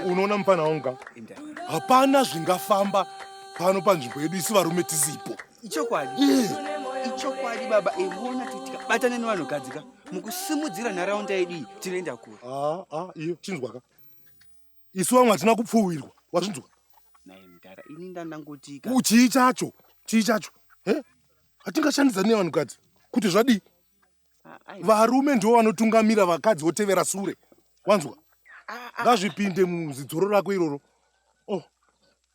unoona mupana wangu ka hapana zvingafamba pano panzvimbo yedu isi varume tisipo ichokwadi eh. ichokwadi baba ivona eh, tutika batane nevanhugadzika mukusimudzira nharaunda yedu iyi tinoenda kure aa ah, ah, iyo chinzwaka isu vamwe hatina kupfuwirwa wazvinzwa chii chacho chii chacho hatingashandidzani nevanhukadzi kuti zvadii ah, varume ndivo vanotungamira vakadzi votevera sure wanzwa ah, ah. ngazvipinde muzidzoro rako iroro oh.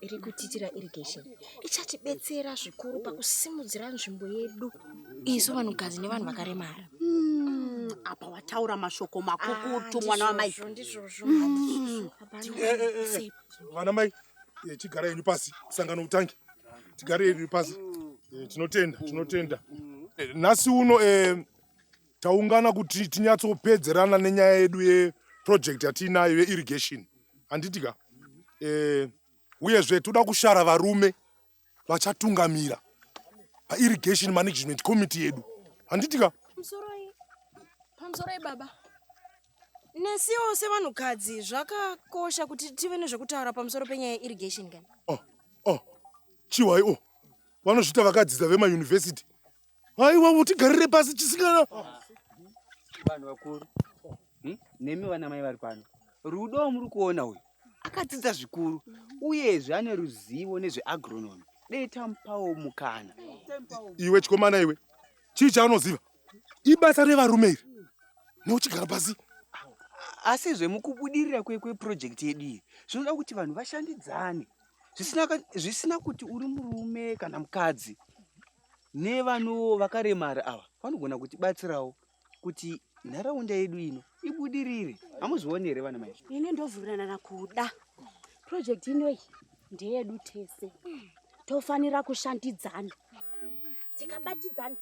iri kutitira irrigation ichatibetsera zvikuru pakusimudzira nzvimbo yedu isu vanhukadzi nevanhu vakaremara hmm, apa wataura mashoko makukutu ah, mwana wamai hmm. eh, eh, eh, vana mai chigara yenyu pasi sangano utangi tigare yenyu pasi tinotenda tinotenda nhasi uno Taungana kuti tinyatsopedzerana nenyaya yedu yeproject yatiinayo yeirrigation handiti ka eh, uyezve toda kushara varume vachatungamira pairrigation management committee yedu handiti ka pamusoroi baba nesiwo sevanhukadzi zvakakosha kuti tive nezvekutaura pamusoro penyaya yeirrigation kani oh, oh, chiwai o oh. vanozviita vakadzidza vemayunivhesiti Aiwa utigarire pasi chisikana. Vanhu vakuru. Hmm? Nemi vana mai vari pano. Rudo muri kuona uyu. Akadzidza zvikuru uyezve ane ruzivo nezveagronomy. Dei tamupawo mukana. Iwe chikomana iwe. Chii chaunoziva? Ibasa revarume iri. Neuchigara pasi asi zvemukubudirira kweprojekti yedu iyi zvinoda kuti vanhu vashandidzane zvisina kuti uri murume kana mukadzi nevanowo vakaremara ava vanogona kutibatsirawo kuti nharaunda yedu ino ibudirire hamuzvioni here vana mai ini ndovhurirana kuda project inoyi ndeyedu tese tofanira kushandidzana tikabatidzana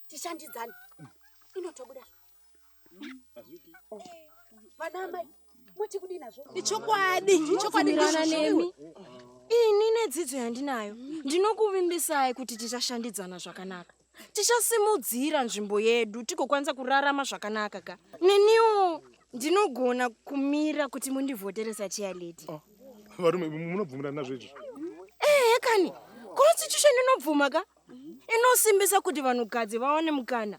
tishandidzana inotobuda vanamai muti kudii nazvo ichokwadi ichokwadi nemi ini nedzidzo yandinayo ndinokuvimbisai kuti tichashandidzana zvakanaka tichasimudzira nzvimbo yedu tigokwanisa kurarama zvakanaka ka neniwo ndinogona kumira kuti mundivhotere sachiya lady oh, varume munobvumirana nazvo izvi ehe kani constitution inobvuma ka inosimbisa kuti vanhukadzi vaone mukana